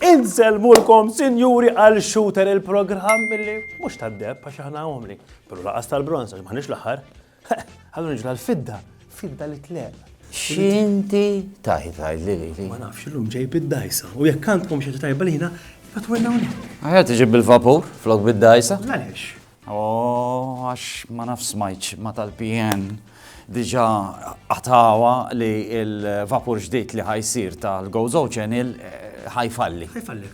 Inzel mulkom, sinjuri, għal shooter il-programm li mux tad-deb, għax ħana għomli. Pero laqas tal-bronza, ġmaħnix l-ħar. Ħallu niġu għal-fidda, fidda li tleq. Xinti taħi taħi li li li. Ma nafx l-lum ġej bid-dajsa. U jekk għandkom xi tajba li jina, fatwilna unik. Għajja tiġi bil-vapur, flok bid-dajsa? Għalix. Oh, għax ma nafx smajċ ma tal-PN diġa għatawa li il-vapur ġdijt li ħajsir tal-Gozo Channel eh, ħajfalli. Ħajfalli.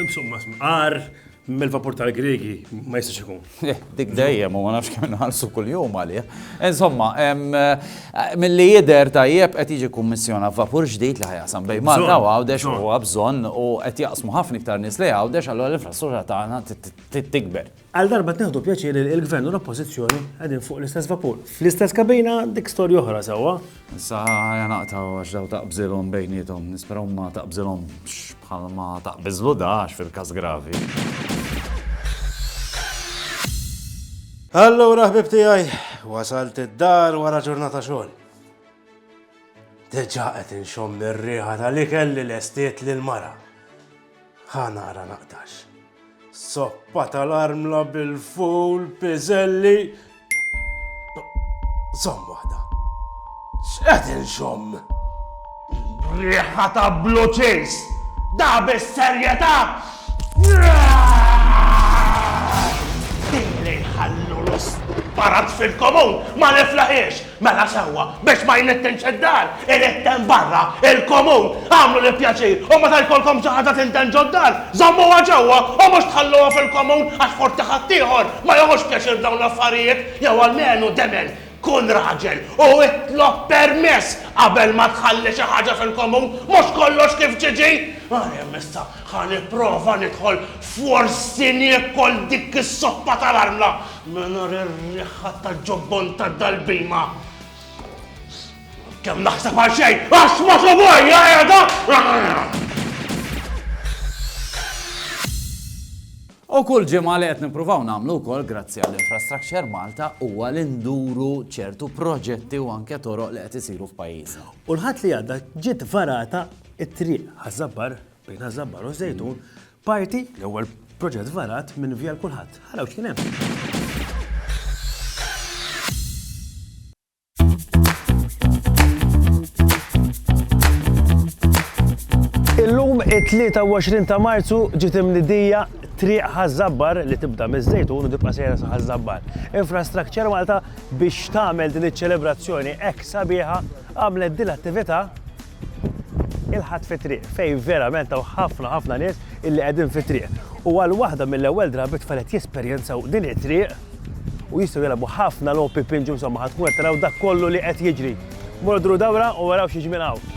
Insomma, għar, Mill-vapur tal-Griegi ma jistax ikun. Eh, dik dejjem u ma nafx kemm nħallsu kuljum għalih. Insomma, eh, milli jidher tajjeb qed jiġi kummissjona vapur ġdid li ħajasam bejn Malta u Għawdex u huwa bżonn u qed jaqsmu ħafna iktar nies li Għawdex allura l-infrastruttura tagħna tikber. Għal darba tneħdu pjaċir li l-Gvern u l-Oppożizzjoni qegħdin fuq l-istess vapur. Fl-istess kabina dik storja oħra sewwa. Issa ħa naqtgħu għax daw taqbżilhom bejniethom. Nispera hu ma taqbżilhomx bħal ma taqbiżlu da għax fil-każ gravi. Allura ħbib tiegħi, wasalt id-dar wara ġurnata xogħol. Deġa qed inxomm ir-riħa tal-ikel li lestiet lil mara. Ħa nara naqtax. Soppa tal-armla bil-ful, piżelli. Żomm waħda. X'qed inxomm? Riħa ta' bloċis! Da bis-serjetà! Din li nħallu l-isparat fil-komun ma niflaħiex! Mela sewwa, biex ma jnettinx id-dar, irid hemm barra, il-komun, agħmlu l-pjaċir u meta jkollkom xi ħaġa tintemm ġod-dar, żommuha ġewwa u mhux tħalluha fil-komun għax forsi ħaddieħor ma jagħmux pjaċir b'dawn l-affarijiet, jew almenu demel, kun raġel u itlob permess qabel ma tħalli xi ħaġa fil-komun, mhux kollox kif ġiġi! Għalhemm issa ħa nipprova nidħol forsi niekol dik is-soppa tal-armla! Mingħajr ir-riħħa tal-ġobbon ta' dal-bhima! Kemm naħseb għal xejn, għax ma subajja qiegħda! U kull ġimgħa li qed nippruvaw nagħmlu wkoll grazzi għall infrastructure Malta huwa li nduru ċertu proġetti u anke toroq li qed isiru f'pajjiżna. U l-Ħadd li għadda ġiet varata t-triq ħażabbar Bejn Ażabbar u Żejtun, parti l-ewwel proġett varat minn Via l-Kulħadd. Ħaraw x'kien hemm. It-23 ta' Marzu ġiet imnidija triq ħażabbar li tibda miż-żejtun u tibqa' sejra sa ħażabbar. Infrastructure Malta biex tagħmel din iċ-ċelebrazzjoni hekk sabiħa għamlet din l-attività Il-Ħadd fit-Triq, fejn verament hawn ħafna ħafna nies illi qegħdin fit-triq. U għal waħda mill-ewwel drabi t-tfal qed jesperjenzaw din it-triq u jistgħu jilgħabu ħafna logħob pinġu insomma ħa tkun qed taraw dak kollu li qed jiġri. Morru duru dawra u araw x'jiġi minn hawn.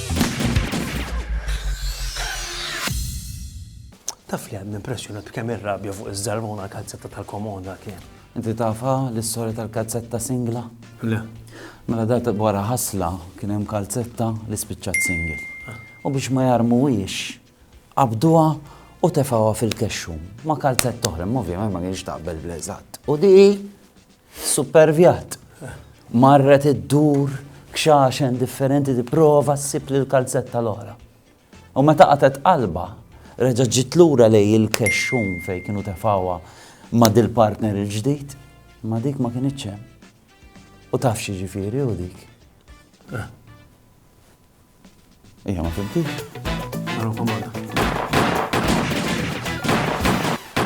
Taf li għadni impressjonat b'kemm ir-rabja fuq iż-żarbona kazzetta tal-komoda kien. Inti tafa l-istorja tal-kazzetta singla? Le. Mela dat wara ħasla kien hemm kalzetta li spiċċat singil. Ah. U biex ma jarmuwiex, qabduha u tefawha fil-kexxum ma' kalzetta oħra, ovvjament ma kienx taqbel bl-eżatt. U di Supervjat. Marret iddur kxaxen differenti tipprova ssib lill-kalzetta l-oħra. U meta qatgħet qalbha, reġgħet ġiet lura lejn il-kexxun fejn kienu tefgħuha ma' dil-partner il-ġdid, imma dik ma kinitx hemm. U taf x'jiġifieri hu dik? Hija ma fimtix.